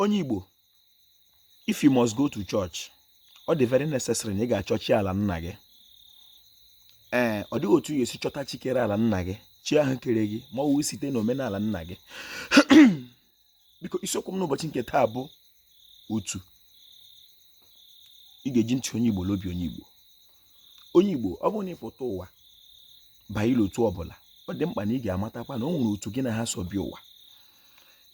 onye Igbo if you must go to church ọ dị very necessary na ị ga-achọ chi ala nna gị ee ọ dịghị otu ị ya-esi chọta chi kere ala nna gị chi ahụ kere gị ma ọ wụ site na omenala nna gị biko isiokwu m n'ụbọchị nke taa bụ otu ị ga-eji ntị onye Igbo l'obi onye Igbo onye Igbo ọ bụrụ na ị pụta ụwa banye n'otu ọbụla ọ dị mkpa na ị ga-amatakwa na o nwere otu gị na ha so bịa ụwa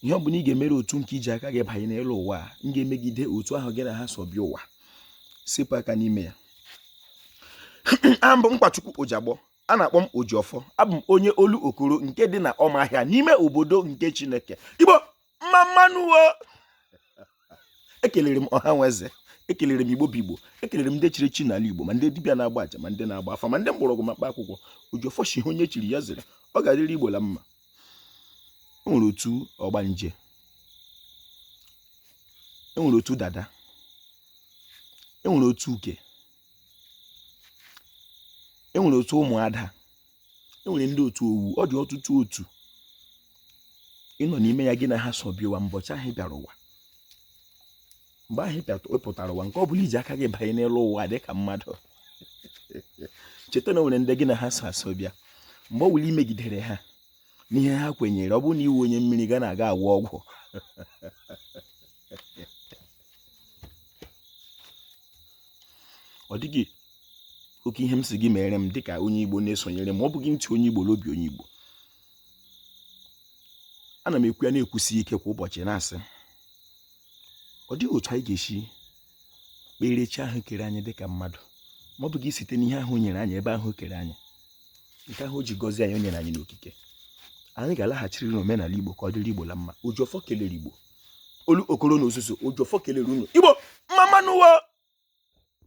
ihe ọ bụla ị ga-emere otu nke i ji aka gị banye n'elu ụwa a nke ga-emegide otu ahụ gị na ha so bịa ụwa sepụ aka n'ime ya abụ m Nkwachukwu Ojiagbọ a na-akpọ m Ojiọfọ abụ m onye Olokoro nke dị na Ọmahịa n'ime obodo nke Chineke Igbo mma mma nụ wo ekelere m ọha na eze ekelere m igbo bụ igbo ekelere m ndị chiri echi n'ala igbo ma ndị dibịa na-agba aja ma ndị na-agba afa ma ndị mgbọrọgwụ ma mkpa akwụkwọ Ojiọfọ shị ihe onye chiri ya zere ọ ga-adịrị igbo la mma e nwere otu ọgbanje e nwere otu dada e nwere otu uke e nwere otu ụmụada e nwere ndị otu owu ọ dị ọtụtụ otu ị nọ n'ime ya gị na ha so bịa ụwa mbọchị ahụ ị bịara ụwa mgbe ahụ ị pụtara ụwa nke ọ bụla i ji aka gị banye n'elu ụwa dị ka mmadụ cheta na o nwere ndị gị na ha so eso bịa mgbe ọ wụla i megidere ha n'ihe ha kwenyere ọ bụrụ na ị wụ onye mmiri ga na-aga agwọ ọgwụ ọ dịghị oke ihe m sị gị mere m dịka onye Igbo na-esonyere m ọ bụghị ntị onye Igbo l'obi onye Igbo ana m ekwu ya na-ekwusi ike kwa ụbọchị na-asị ọ dịghị otu anyị ga-esi kpere chi ahụ kere anyị dịka mmadụ ma ọ bụghị site n'ihe ahụ o nyere anyị ebe ahụ o kere anyị nke ahụ o ji gọzie anyị o nyere anyị n'okike anyị ga-alaghachiri n'omenala Igbo ka ọ dịrị Igbo la mma Ojiọfọ kelere Igbo Olokoro na ozuzu Ojiọfọ kelere unu igbo mma mma nụ